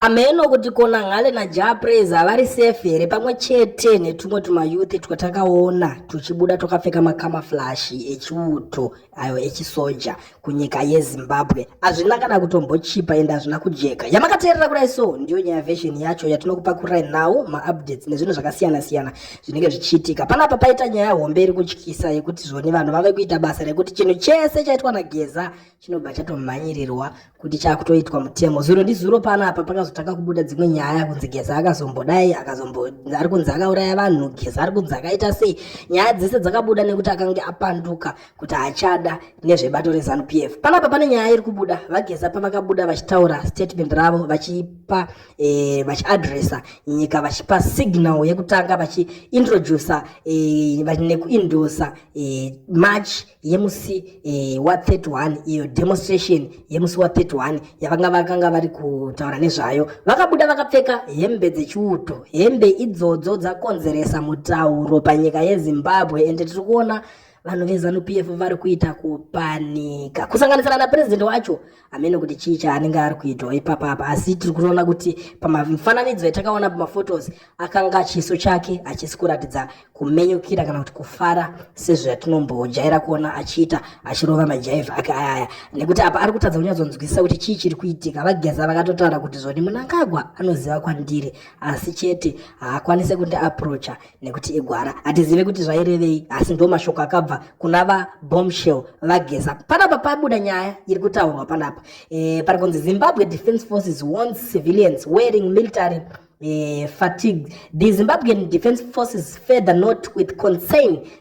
Hameno kuti kona Nghale naJah Praise havari safe here pamwe chete netumwe tumayuthi twatakaona tuchibuda twakapfeka makamaflashi echiuto ayo echisoja kunyika yeZimbabwe. Hazvina kana kutombochipa ende hazvina kujeka. Yamakateerera kudai so ndiyo nyaya version yacho yatinokupakurai nhau maupdates nezvinhu zvakasiyana siyana zvinenge zvichiitika. Panapa paita nyaya hombe iri kutyisa yekuti zvoni vanhu vave kuita basa rekuti chinhu chese chaitwa naGeza chinobva chatomhanyirirwa kuti chakutoitwa mutemo zuro ndizuro panapa pakazotanga kubuda dzimwe nyaya kunzi geza akazombodai akazombo ari kunzi akauraya vanhu geza ari kunzi akaita sei nyaya dzese dzakabuda nekuti akange apanduka kuti achada nezvebato rezanup f panapa pane nyaya iri kubuda vageza pavakabuda vachitaura statement ravo vachipa e, eh, vachiadresa nyika vachipa signal yekutanga vachiintroducer e, eh, nekuindosa e, eh, march yemusi eh, wa 31 iyo demonstration yemusi wa 31 yavanga vakanga vari kutaura nezvayo vakabuda vakapfeka hembe dzechiuto hembe idzodzo dzakonzeresa mutauro panyika yezimbabwe ende tiri kuona vanhu vezanu p f vari kuita kupanika kusanganisira napurezidendi wacho hameno kuti chii chaanenge ari kuitwa ipapa apa asi tiri kuona kuti pamifananidzo yatakaona pamaphotos akanga chiso chake hachisi kuratidza kumenyukira kana kuti kufara sezvatinomboojaira kuona achiita achirova majaivha ake ayaya nekuti apa ari kutadza kunyatsonzwisisa kuti chii chiri kuitika vageza vakatotaura kuti zvoni munangagwa anoziva kwandiri asi chete haakwanise kundiaprocha nekuti igwara hatizive kuti zvairevei asi ndo mashoko akabva kuna vabombshell vageza panapa pabuda nyaya iri kutaurwa panapa e, pari kunzi zimbabwe defence forces warns civilians wearing military e, fatigue the zimbabwean defence forces further note with concern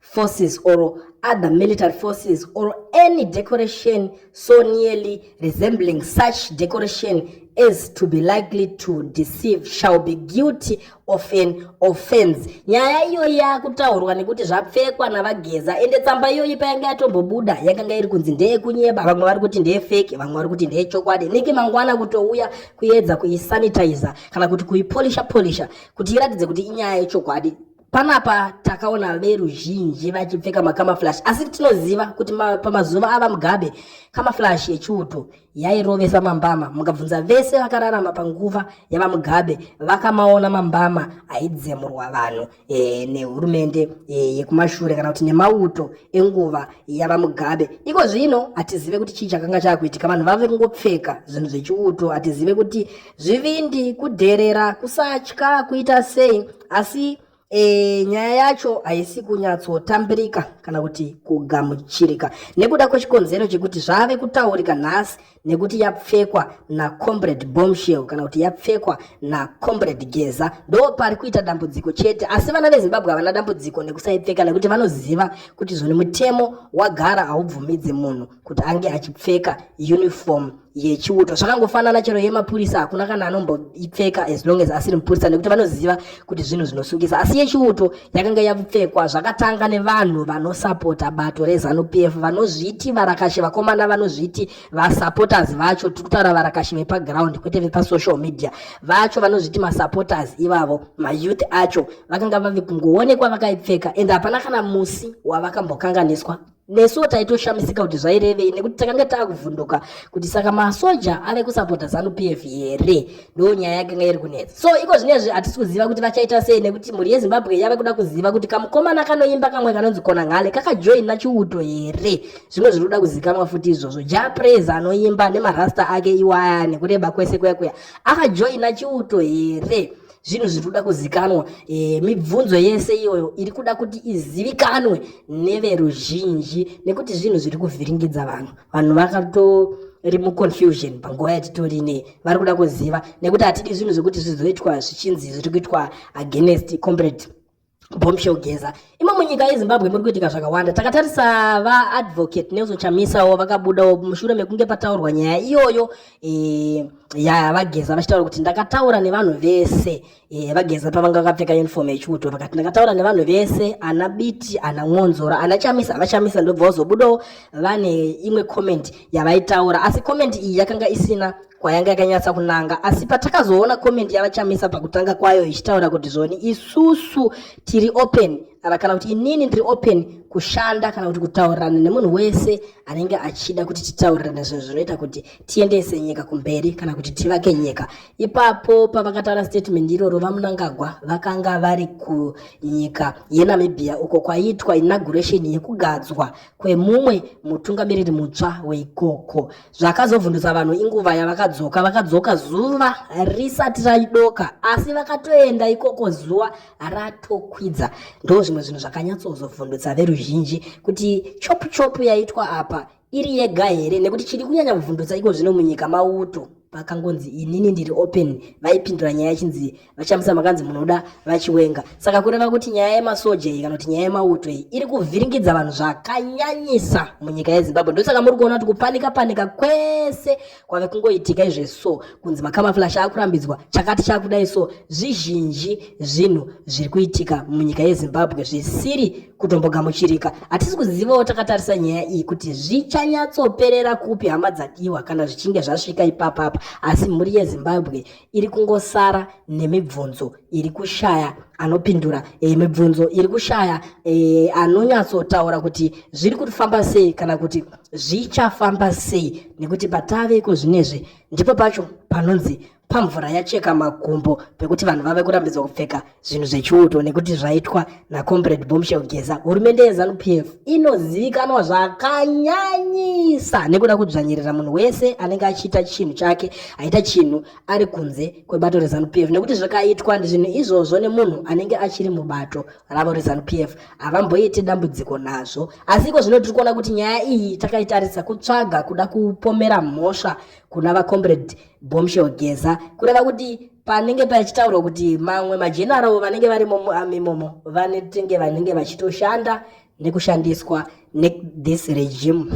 forces or other military forces or any decoration so nearly resembling such decoration as to be likely to deceive shall be guilty of an offense nyaya iyoyi yakutaurwa nekuti zvapfekwa navageza ende tsamba iyoyi payanga yatombobuda yakanga iri kunzi ndeyekunyeba vamwe vari kuti ndeyefeki vamwe vari kuti ndeyechokwadi neke mangwana kutouya kuedza kuisanitizer kana kuti kuipolisha polisha kuti iratidze kuti inyaya yechokwadi Panapa takaona veruzhinji vachipfeka makamaflash asi tinoziva kuti ma, pamazuva ava Mugabe kamaflash yechiuto yairovesa mambama. Mukabvunza vese vakararama panguva yaVaMugabe vakamaona mambama aidzemurwa vanhu e, nehurumende e, yekumashure kana kuti nemauto enguva yaVaMugabe. Iko zvino hatizive kuti chii chakanga chakuitika, vanhu vave kungopfeka zvinhu zvechiuto, hatizive kuti zvivindi, kudherera, kusatya kuita sei asi e, nyaya yacho haisi kunyatsotambirika kana kuti kugamuchirika nekuda kwechikonzero chekuti zvave kutaurika nhasi nekuti yapfekwa nacombrade bombshell kana kuti yapfekwa nacombrade geza ndo pari kuita dambudziko chete asi vana vezimbabwe havana dambudziko nekusaipfeka nekuti vanoziva kuti zvoni mutemo wagara haubvumidze munhu kuti ange achipfeka uniform yechiuto zvakangofanana chero yemapurisa hakuna kana anomboipfeka as long as asiri mupurisa nekuti vanoziva kuti zvinhu zvinosungisa asi yechiuto yakanga yapfekwa zvakatanga nevanhu vanosapota bato rezanu p f vanozviti varakashi vakomana vanozviti vasupporters vacho tiri kutaura varakashi vepaground kwete vepasocial media vacho vanozviti masupporters ivavo mayouth acho vakanga vave kungoonekwa vakaipfeka and hapana kana musi wavakambokanganiswa nesuwo taitoshamisika kuti zvairevei nekuti takanga taakuvhunduka kuti saka masoja ave kusapota zanu p f here ndoo nyaya yakanga iri kunetsa so iko zvinezvi hatisi kuziva kuti vachaita sei nekuti mhuri yezimbabwe yave kuda kuziva kuti kamukomana kanoimba kamwe kanonzi kona nghale kakajoin nachiuto here zvimwe zviri kuda kuzikamwa futi izvozvo ja praise anoimba nemarasta ake iwaya nekureba kwese kuya kuya akajoina chiuto here zvinhu zviri kuda kuzikanwa e, mibvunzo yese iyoyo iri kuda kuti izivikanwe neveruzhinji nekuti zvinhu zviri kuvhiringidza vanhu vanhu vakatori muconfusion panguva yatitori nei vari kuda kuziva nekuti hatidi zvinhu zvekuti zvizoitwa zvichinzi zviri kuitwa against comrade bombshell geza imo munyika yezimbabwe muri kuitika zvakawanda takatarisa vaadvocate nelson chamisawo vakabudawo mushure mekunge pataurwa nyaya iyoyo e, ya vageza vachitaura kuti ndakataura nevanhu vese e, vageza pavanga vakapfeka uniform yechiuto vakati ndakataura nevanhu vese ana biti ana mwonzora ana chamisa vachamisa ndobva vazobudawo vane imwe comment yavaitaura asi comment iyi yakanga isina kwayanga yakanyatsa kunanga asi patakazoona comment yavachamisa pakutanga kwayo ichitaura kuti zvoni isusu tiri open ava kana kuti inini ndiri open kushanda kana kuti kutaurirana nemunhu wese anenge achida kuti titaurirane zvinhu zvinoita kuti tiendese nyika kumberi kana kuti tivake nyika ipapo pavakataura statement iroro vamunangagwa vakanga vari kunyika yenamibia uko kwaiitwa inauguration yekugadzwa kwemumwe mutungamiriri mutsva weikoko Zvakazovhundutsa vanhu inguva yavakadzoka. Vakadzoka zuva risati raidoka, asi vakatoenda ikoko zuva ratokwidza. Ndo zvimwe zvinhu zvakanyatsozovhundutsa veruzhinji kuti chopu chopu yaitwa apa iri yega here, nekuti chiri kunyanya kuvhundutsa iko zvino munyika mauto pakangonzi inini ndiri open vaipindura nyaya yachinzi VaChamisa makanzi munoda vaChiwenga. Saka kureva kuti nyaya yemasoja iyi kana kuti nyaya yemauto iyi iri kuvhiringidza vanhu zvakanyanyisa munyika yeZimbabwe. Ndosaka muri kuona kuti kupanika panika kwese kwave kungoitika izve so kunzi makamaflash akurambidzwa chakati chakudai so zvizhinji zvinhu zviri kuitika munyika yeZimbabwe zvisiri kutombogamuchirika. Hatisi kuzivawo takatarisa nyaya iyi kuti zvichanyatsoperera kupi hama dzadiwa kana zvichinge zvasvika ipapapa asi mhuri yeZimbabwe iri kungosara nemibvunzo iri kushaya anopindura e, mibvunzo iri kushaya e, anonyatsotaura kuti zviri kufamba sei kana kuti zvichafamba sei nekuti patave iko zvinezvi ndipo pacho panonzi pamvura yacheka makumbo pekuti vanhu vave kurambidzwa kupfeka zvinhu zvechiuto nekuti zvaitwa nacomrade bomshel geza hurumende yezanup f inozivikanwa zvakanyanyisa nekuda kudzvanyirira munhu wese anenge achiita chinhu chake aita chinhu ari kunze kwebato rezanup f nekuti zvakaitwa zvinhu izvozvo nemunhu anenge achiri mubato ravo rezanup f havamboiti dambudziko nazvo asi iko zvino tiri kuona kuti nyaya iyi takaitarisa kutsvaga kuda kupomera mhosva kuna vacomrade bomshel geza kureva kuti panenge pachitaurwa kuti mamwe majenaravo vanenge vari imomo vanetenge vanenge vachitoshanda nekushandiswa nethis regime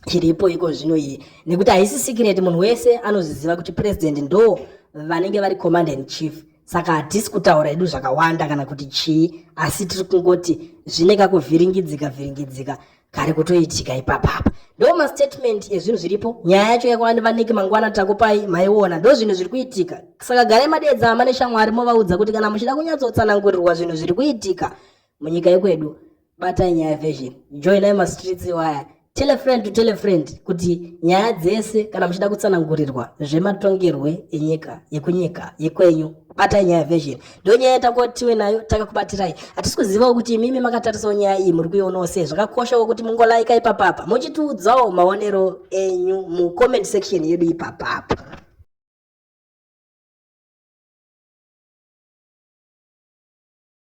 chiripo iko zvino iyi nekuti haisi sikireti munhu wese anozviziva kuti purezidendi ndo vanenge vari command and chief saka hatisi kutaura edu zvakawanda kana kuti chii asi tiri kungoti zvine kakuvhiringidzika vhiringidzika kari kutoitika ipapa apa ndo mastatement ezvinhu zviripo nyaya yacho yakwani vaniki mangwana takupai maiona ndo zvinhu zviri kuitika saka garai madeedza hama neshamwari movaudza kuti kana muchida kunyatsotsanangurirwa zvinhu zviri kuitika munyika yekwedu batai nyaya version joinai mastreets iwaya tell a friend to tell a friend kuti nyaya dzese kana muchida kutsanangurirwa zvematongerwe enyika yekunyika yekwenyu batai nyaya version ndonyaya yatakuwa tiwe nayo takakubatirai hatisi kuzivawo kuti imimi makatarisawo nyaya iyi muri kuionawo sei zvakakoshawo kuti mungolaika ipapapa muchitiudzawo maonero enyu mucomment section yedu ipapapa